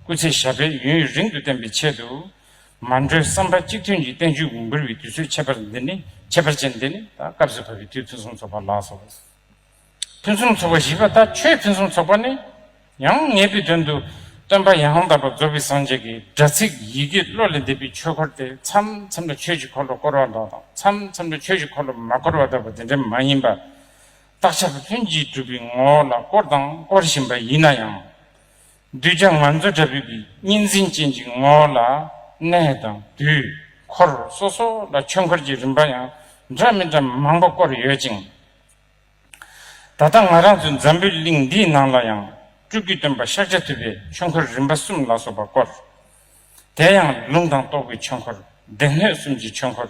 སྐུ་ཚེ་ཞབས་པད་ཡུན་ཡུན་རིང་དུ་བརྟན་པའི་ཆེད་དུ། མ་འགྲོའི་བསམ་པ་གཅིག་མཐུན་གྱིས་བསྟན་བཅོས་འབུལ་བའི་དུས་ཚོད་ཁྱད་པར་ཅན་འདི་ནི། ཕུན་སུམ་ཚོགས་པ་བཞི་པ་དག་ཆོས་ཕུན་སུམ་ཚོགས་པ་ནི་ཡང་ངེས་པའི་དོན་དུ་སྟོན་པ་ཡང་དག་པར་རྫོགས་པའི་སངས་རྒྱས་ཀྱི་སྒྲ་ཚིག་ཡི་གེ་བློ་ལས་འདས་པའི་ཆོས་འཁོར་དེ་མཚམས་མཚམས་ལ་ཆོས་ཀྱི་འཁོར་ལོ་བསྐོར་བ་མདོ་དང་མཚམས་མཚམས་ལ་ཆོས་ཀྱི་འཁོར་ལོ་མ་བསྐོར་བ་ལྟ་བུ་དེ་འདྲ་མ་ཡིན་པར། རྟགས་ཆགས་པའི་ལྷུན་གྱིས་གྲུབ་པའི་ངོ་བོ་ལ་བསྐོར་དང་བསྐོར་བཞིན་པ་ཡིན་ན་ཡང། གདུལ་བྱ་ང་ཚོ་དྲ་འབུ་གི་གཉིས་འཛིན་ཅན་གྱི་ངོ་བོ་ལ་གནས་དང་དུས་འཁོར་སོ་སོ་ལ་ཆོས་འཁོར་གྱི་རིམ་པ་ཡང་འདྲ་མི་འདྲ་མང་པོ་བསྐོར་ཡོད་ཅིང། ད་ལྟ་ང་རང་ཚོའི་འཛམ་བུའི་གླིང་འདིའི་ནང་ལ་ཡང་སྤྲུལ་སྐུའི་སྟོན་པ་ཤཱཀྱ་ཐུབ་པའི་ཆོས་འཁོར་རིམ་པ་གསུམ་ལ་སོགས་པ་བསྐོར། དེ་ཡང་ལུང་དང་རྟོགས་པའི་ཆོས་འཁོར་སྡེ་སྣོད་གསུམ་གྱི་ཆོས་འཁོར་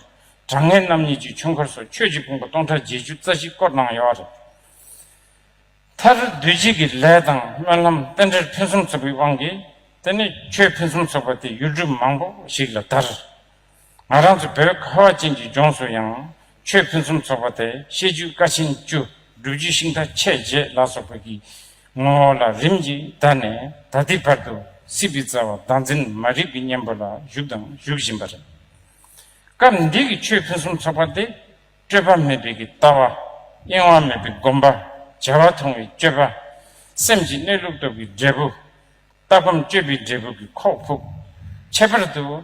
དྲང་ངེས་རྣམ་གཉིས་ཀྱི་ཆོས་འཁོར་སོགས་ཆོས་ཀྱི་དཔུང་པ་སྟོང་ཕྲག་བརྒྱད་ཅུ་རྩ་གཅིག་བསྐོར་གནང་ཡོད། མཐར་བདུད་བྱེད་ཀྱི་ལས་དང་སྨོན་ལམ་རྟེན་འབྲེལ་ཕུན་སུམ་ཚོགས་པའི་དབང་གིས་དེ་ནས་ཆོས་ཕུན་སུམ་ཚོགས་པ་དེ་ཡུལ་གྲུ་མང་པོ་ཞིག་ལ་དར། ང་རང་ཚོ་བོད་ཁ་བ་ཅན་གྱི་ལྗོངས་སུ་ཡང་ཆོས་ཕུན་སུམ་ཚོགས་པ་དེ་བཤད་རྒྱུད་བཀའ་ཆེན་བཅུ་སྒྲུབ་རྒྱུད་ཤིང་རྟ་ཆས་བརྒྱད་ལ་སོགས་པ་གྱི་ངོ་བོ་ལ་རིམ་གྱིས་དར་ནས་ད་ལྟའི་བར་དུ་སྲིད་པའི་རྩ་བ་བདག་འཛིན་མ་རིག་གི་གཉེན་པོ་ལ་བཞུགས་དང་བཞུགས་བཞིན་པ་རེད། སྐབས་འདི་གི་ཆོས་ཕུན་སུམ་ཚོགས་པ་དེ་སྤྲོས་པ་མེད་པའི་ཀྱི་ལྟ་བ། གཡེང་བ་མེད་པའི་སྒོམ་པ། བྱ་བ་མཐོང་བའི་སྤྱོད་པ། སེམས་ཀྱི་གནས་ལུགས་རྟོགས་པའི་འབྲས་བུ། ལྟ་སྒོམ་སྤྱོད་པའི་འབྲས་བུ་ཀྱི་ཁོག་ཕུབ། ཁྱད་པར་དུ།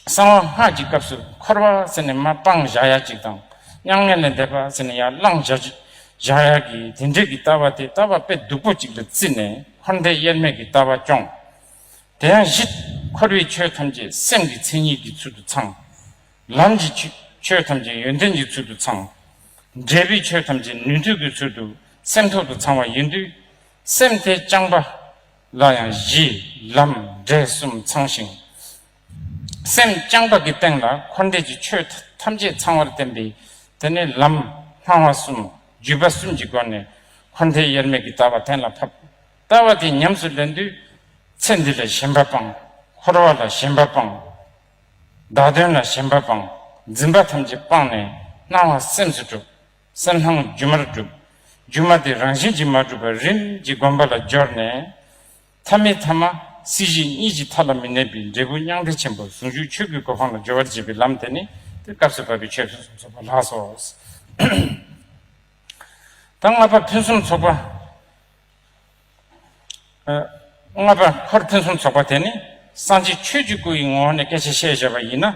གསང་བ་སྔགས་ཀྱི་སྐབས་སུ་འཁོར་བ་ཟེར་ནས་མ་སྤང་བཞག་ཡ་གཅིག་དང། མྱ་ངན་ལས་འདས་པ་ཟེར་ནས་ཡར་བླངས་བཞག་གཅིག་བཞག་ཡ་གི་དེ་འདྲའི་ཀྱི་ལྟ་བ་དེ་ལྟ་བ་དཔེ་སྡུག་པོ་གཅིག་ལ་བརྩིས་ནས་འཁོར་འདས་དབྱེར་མེད་ཀྱི་ལྟ་བ་སྐྱོང། དེ་ཡང་བཞི། འཁོར་བའི་ཆོས་ཐམས་ཅད་སེམས་ཀྱི་མཚན་ཉིད་ཀྱི་ཚུལ་དུ་ཚང། ལམ་གྱི་ཆོས་ཐམས་ཅད་ཡོན་ཏན་གྱི་ཚུལ་དུ་ཚང། འབྲས་བུའི་ཆོས་ཐམས་ཅད་ནུས་མཐུ་གི་ཚུལ་དུ་སེམས་ཐོག་ཏུ་ཚང་བ་ཡིན་དུས། སེམས་དེ་རྐྱང་པ་ལ་ཡང་གཞི། ལམ། འབྲས་གསུམ་ཚང་ཞིང། སེམས་རྐྱང་པ་གི་སྟེང་ལ་འཁོར་འདས་ཀྱི་ཆོས་ཐམས་ཅད་ཚང་བར་བསྟན་པས་དེ་ནི་ལམ། སྣང་བ་གསུམ། བརྒྱུད་པ་གསུམ་གྱི་སྒོ་ནས་འཁོར་འདས་དབྱེར་མེད་ཀྱི་ལྟ་བ་གཏན་ལ་ཕབ། ལྟ་བ་དེ་ཉམས་སུ་ལེན་དུས། ཚེ་འདི་ལ་ཞེན་པ་སྤངས། འཁོར་བ་ལ་ཞེན་པ་སྤངས། བདག་དོན་ལ་ཞེན་པ་སྤང། འཛིན་པ་ཐམས་ཅད་སྤངས་ནས། སྣང་བ་སེམས་སུ་གྲུབ། གསལ་སྣང་སྒྱུ་མར་གྲུབ། སྒྱུ་མ་དེ་རང་བཞིན་གྱིས་མ་གྲུབ་པར་རིམ་གྱིས་བསྒོམ་པ་ལ་སྦྱོར་ནས། ཐ་མི་ཐ་མ་སྲིད་ཞི་གཉིས་ཀྱི་མཐའ་ལ་མི་གནས་པའི་འབྲས་བུ་མྱང་འདས་ཆེན་པོར་ཟུང་འཇུག་ཆོས་སྐུའི་གོ་འཕང་ལ་སྦྱོར་བར་བྱེད་པའི་ལམ་དེ་ནི་དེ་སྐབས་སུ་བབ་པའི་ཆོས་ཕུན་སུམ་ཚོགས་པ་ལགས་སོ། ད་ལྔ་པ་ཕུན་སུམ་ཚོགས་པ། ལྔ་པ། འཁོར་ཕུན་སུམ་ཚོགས་པ་དེ་ནི་སངས་རྒྱས་ཆོས་ཀྱི་སྐུ་ཡི་ངོ་བོ་ནས་སྐད་ཆ་བཤད་བྱ་བ་ཡིན་ན།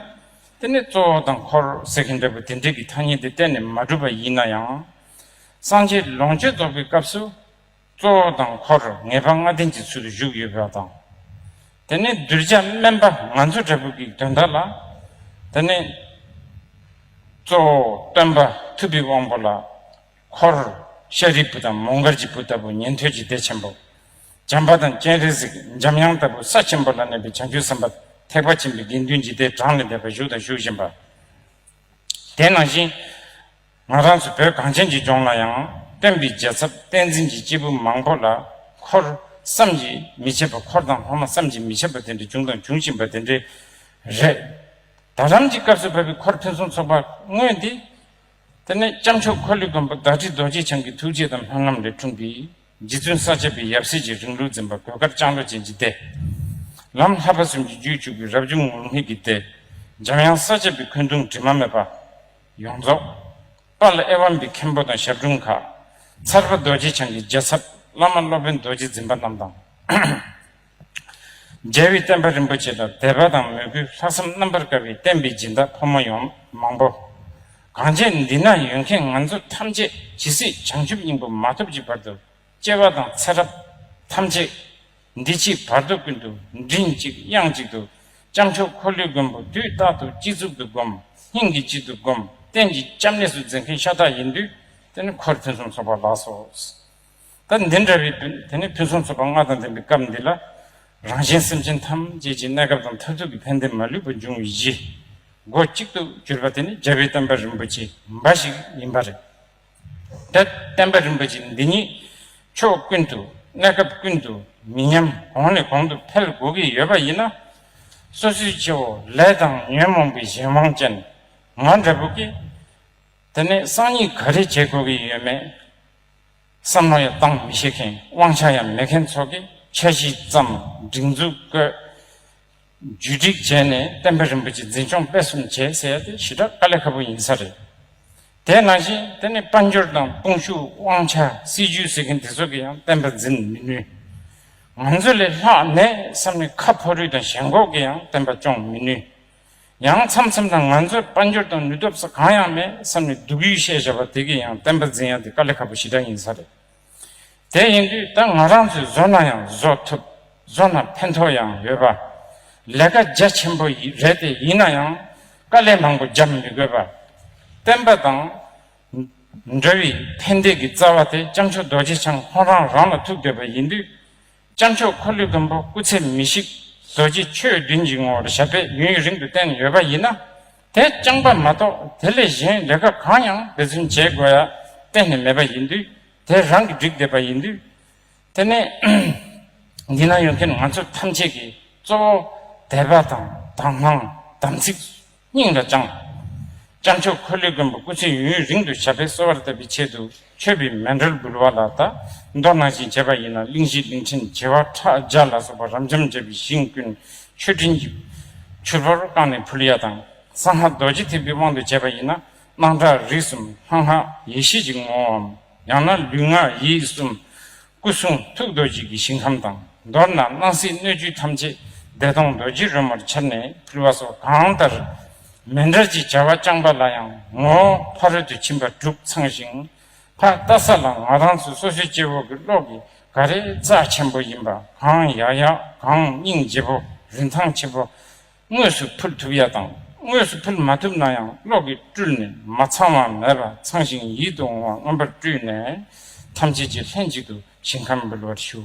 དེ་ནི་གཙོ་བོ་དང་འཁོར་ཟེར་གྱི་འབྲས་བུ་དེ་འབྲས་ཀྱི་ཐ་སྙད་འདི་གཏན་ནས་མ་གྲུབ་པ་ཡིན་ན་ཡང། སངས་རྒྱས་ལོངས་སྤྱོད་རྫོགས་པའི་སྐབས་སུ། གཙོ་བོ་དང་འཁོར་ངེས་པ་ལྔ་ལྡན་གྱི་ཚུལ་དུ་བཞུགས་ཡོད་པ་དང། དེ་ནི་གདུལ་བྱ་དམན་པ་ང་ཚོ་འདྲ་བོ་གིས་དོན་དག་ལ། དེ་ནི། གཙོ་བོ་སྟོན་པ་ཐུབ་པའི་དབང་པོ་ལ། འཁོར། ཤཱ་རིའི་བུ་དང་མོ་མགར་གྱི་བུ་ལྟ་བུ་ཉན་ཐོས་ཀྱི་སྡེ་ཆེན་པོ། བྱམས་པ་དང་སྤྱན་རས་གཟིགས་འཇམ་དབྱངས་ལྟ་བུ་ས་ཆེན་པོ་ལ་གནས་པའི་བྱང་ཆུབ་སེམས་དཔའ་ཐེག་པ་ཆེན་པོའི་དགེ་འདུན་གྱི་སྡེ་གྲངས་ལས་འདས་པར་བཞུགས་དང་བཞུགས་བཞིན་པ། དེ་ནང་བཞིན། ང་རང་ཚོ་བོད་གངས་ཅན་གྱི་ལྗོངས་ལ་ཡང་སྟོན་པའི་རྒྱལ་ཚབ་བསྟན་འཛིན་གྱི་སྐྱེས་བུ་མང་པོ་ལ་འཁོར། བསམ་གྱིས་མི་ཁྱབ་པ་འཁོར་དང་ལྷག་མ་བསམ་གྱིས་མི་ཁྱབ་པ་དེ་འདྲ་བྱུང་དང་འབྱུང་བཞིན་པ་དེ་འདྲའི་རེད། ད་ལམ་གྱི་སྐབས་སུ་བབས་པའི་འཁོར་ཕུན་སུམ་ཚོགས་པ་དངོས་འདི། དེ་ནས་སྐྱབས་མཆོག་འཁོར་ལོས་བསྒོམ་པ་བདག་ཁྲི་རྡོ་རྗེ་འཆང་གི་ཐུགས་རྗེ་དང་ལྷ་རྣམས་ལས་འཁྲུངས་པའི་རྗེ་བཙུན་ས་བཅད་པའི་ཡབ་སྲས་ཀྱི་རིང་ལུགས་འཛིན་པ་གོས་དཀར་ལྕང་ལོ་ཅན་གྱི་སྡེ། ལམ་ལྷ་པ་གསུམ་གྱི་རྒྱུད་བཅུག་པའི་རབ་བྱུང་ངུར་སྨྲིག་གི་སྡེ། འཇམ་དབྱངས་ས་བཅད་པའི་འཁོན་གདུང་དྲི་མ་མེད་པ། ཡོངས་རྫོགས། པ་ལ་ཨེ་ཝམ་པའི་མཁན་པོ་དང་ཞབས་དྲུང་མཁའ། ཚར་པ་རྡོ་རྗེ་འཆང་གི་རྒྱལ་ཚབ་བླ་མ་སློབ་དཔོན་རྡོ་རྗེ་འཛིན་པ་རྣམས་དང། རྒྱལ་བའི་བསྟན་པ་རིན་པོ་ཆེ་ལ་དད་པ་དང་མོས་གུས་ལྷག་བསམ་རྣམ་པར་དཀར་བའི་བསྟན་པའི་སྦྱིན་བདག་ཕོ་མོ་ཡོངས་མང་པོ། གང་རྒྱས་འདི་ན་ཡོད་མཁན་ང་ཚོ་ཐམས་ཅད་ཇི་སྲིད་བྱང་ཆུབ་སྙིང་པོ་མ་ཐོབ་ཀྱི་བར་དུ་སྐྱེ་བ་དང་ཚེ་རབས་ཐམས་ཅད་འདི་ཕྱིའི་བར་དོ་ཀུན་ཏུ་མགྲིན་གཅིག་དབྱངས་གཅིག་ཏུ་ལྕམ་ཆོས་འཁོར་ལོའི་མགོན་པོ་དུས་རྟག་ཏུ་སྤྱི་གཙུག་ཏུ་བསྒོམ་སྙིང་གི་དཔྱིད་དུ་བསྒོམ་གཏན་གྱི་སྐྱབས་གནས་སུ་འཛིན་མཁན་ཤ་སྟག་ཡིན་དུས་དེ་ནི་འཁོར་ཕུན་སུམ་ཚོགས་པ་ལགས་སོ། ད་འདི་འདྲ་རེད་འདོད་དེ་ནི་ཕུན་སུམ་ཚོགས་པ་ལྔ་དང་ལྡན་པའི་སྐབས་འདི་ལ། རང་གཞན་སེམས་ཅན་ཐམས་ཅད་ཀྱི་གནས་སྐབས་དང་མཐར་ཐུག་གི་ཕན་བདེ་མ་ལུས་པ་འབྱུང་བའི་གཞི། སྒོ་གཅིག་ཏུ་གྱུར་པ་དེ་ནི་རྒྱལ་བའི་བསྟན་པ་རིན་པོ་ཆེ་འབའ་ཞིག་ཡིན་པ་རེད། ད་བསྟན་པ་རིན་པོ་ཆེ་འདི་ཉིད་ཕྱོགས་ཀུན་ཏུ་གནས་སྐབས་ཀུན་ཏུ་མི་ཉམས་གོང་ནས་གོང་དུ་འཕེལ་དགོས་ཀྱི་ཡོད་པ་ཡིན་ན། སོ་སོའི་ཁྱེའུ་ལས་དང་ཉོན་མོངས་པའི་གཞན་དབང་ཅན་ང་འདྲ་བོ་གིས་དེ་ནས་གསང་སྙིང་ག་རེ་བྱེད་དགོས་ཀྱི་ཡོད་མེད། བསམ་བློ་ཡང་གཏང་མི་ཤེས་མཁན་དབང་ཆ་ཡང་མེད་མཁན་ཚོ་གི་འཆར་གཞི་ཙམ་སྒྲིག་འཛུགས་བཀོད། བརྒྱུད་སྒྲིག་བྱས་ནས་བསྟན་པ་རིན་པོ་ཆེ་འཛིན་སྐྱོང་སྤེལ་གསུམ་བྱེད་ཟེར་ཡ་དེ་ཞི་དྲག་དཀའ་ལས་ཁ་པོ་ཡིན་ས་རེད། དེས་ན་བཞིན་དེ་ནི་དཔལ་འབྱོར་དང་དཔུང་ཤུགས་དབང་ཆ་སྲིད་ཇུས་ཟེར་མཁན་དེ་ཚོ་གི་ཡང་བསྟན་པ་འཛིན་མི་ནུས། ང་ཚོ་ལས་ལྷག་ནས་བསམ་ནི་ཁ་ཕོ་རུས་དང་ཞེན་ཁོག་གི་ཡང་བསྟན་པ་སྐྱོང་མི་ནུས། ཡང་མཚམས་མཚམས་དང་ང་ཚོའི་དཔལ་འབྱོར་དང་ནུས་སྟོབས་སོགས་གང་ཡང་མེད་བསམ་ནས་སྡུག་ཡུས་བཤད་བཞག་པ་དེ་གས་ཡང་བསྟན་པ་འཛིན་ཡག་འདི་དཀའ་ལས་ཁག་པོ་ཞིག་འདྲ་ཡིན་ས་རེད། དེ་ཡིན་དུས་ད་ང་རང་ཚོས་བཟོ་ན་ཡང་བཟོ་ཐུབ་བཟོ་ན་ཕན་ཐོགས་ཡང་ཡོད་པ། ལས་ཀ་རྒྱ་ཆེན་པོ་རེད་དེ་ཡིན་ན་ཡང་དཀའ་ལས་མང་པོ་རྒྱབ་མི་དགོས་པ། བསྟན་པ་དང་འདྲ་བའི་ཕན་བདེ་གི་རྩ་བ་དེ་སྐྱབས་མཆོག་རྡོ་རྗེ་འཆང་ཁོང་རང་རང་ལ་ཐུག་བསྡད་པ་ཡིན་དུས། སྤྱན་མཆོག་འཁོར་ལོའི་མགོན་པོ་སྐུ་ཚེ་མི་ཤིགས་བཟོ་རྗེས་ཆོས་བདུན་གྱི་ངོ་བོར་ཞབས་པད་ཡུན་རིང་དུ་བརྟན་ནས་ཡོད་པ་ཡིན་ན། དེ་རྐྱང་པ་མ་གཏོགས་དེ་ལས་གཞན་རེ་འགའ་གང་ཡང་འབད་བརྩོན་བྱེད་དགོས་ཡ་གཏན་ནས་མེད་པ་ཡིན་དུས་དེ་རང་གིས་བསྒྲིགས་བསྡད་པ་ཡིན་དུས། དེ་ནས་འདི་ན་ཡོད་མཁན་ང་ཚོ་ཐམས་ཅད་ཀྱིས་གཙོ་བོ་དད་པ་དང་དྭངས་བླངས་དམ་ཚིག། སྙིང་ལ་བཅངས། སྤྱང་ཕྱུག་ཁོལ་ལེ་མགོན་པོ་སྐུ་ཚེ་ཡུན་ཡུན་རིང་དུ་བྱ་འཕེལ་གསོལ་བ་ལྟ་བུའི་ཆེད་དུ་མཆོད་པའི་མེ་འགྲོལ་འབུལ་བ་ལ་དག་མདོག་ནང་བཞིན་བྱས་པ་ཡིན་ན་གླིང་བཞི་གླིང་ཕྲན་བྱེ་བ་ཕྲག་བརྒྱ་ལ་སོགས་པ་རབ་འབྱམས་འབྱེད་པའི་ཞིང་ཀུན་མཆོད་སྤྲིན་གྱིས་ཕྱུར་བུར་བཀང་ནས་ཕུལ་ཡ་དང། སང་ལྷ་རྡོ་རྗེ་ཐེག་པའི་དབང་དུ་བྱས་པ་ཡིན་ན་སྣང་གྲགས་རིགས་གསུམ་ལྷང་ལྷང། ཡེ་ཤེས་ཀྱི་ངོ་བོའམ་ཡང་ན་ལུས་ངག་ཡིད་གསུམ། སྐུ་གསུང་ཐུགས་རྡོ་རྗེ་གི་ཞིང་ཁམས་དང་མདོར་ན་སྣང་སྲིད་སྣོད་བཅུད་ཐམས་ཅད་བདེ་སྟོང་རྡོ་རྗེ་རོལ་མོར་འཆར་ནས་ཕུལ་བ་སོགས་གང་ལྟར་མེ་འབྲས་ཀྱི་བྱ་བ་བསྐྱངས་པ་ལ་ཡང་ངོ་བོ་ཕ་རོལ་ཏུ་ཕྱིན་པ་གྲུབ་ཚང་ཞིང། ཕ་རྟ་ས་ལ་ང་རང་ཚོ་སོ་སོའི་སྐྱེ་བོ་གི་གློག་གི་ག་རེ་རྩ་ཆེན་པོ་ཡིན་པ་གང་ཡག་ཡག་གང་སྙིང་རྗེ་བོ་རིན་ཐང་ཆེ་བོ། དངོས་སུ་ཕུལ་ཐུབ་ཡ་དང་དངོས་སུ་ཕུལ་མ་ཐུབ་ན་ཡང་གློག་གིས་བཀྲུས་ནས་མ་ཚང་བ་མེད་པ་ཚང་ཞིང་ཡིད་དུ་འོང་བ་མངོན་པར་བཀྲུས་ནས་ཐམས་ཅད་ཀྱིས་ལྷན་ཅིག་ཏུ་ཞིང་ཁམས་འབུལ་བར་ཞུ།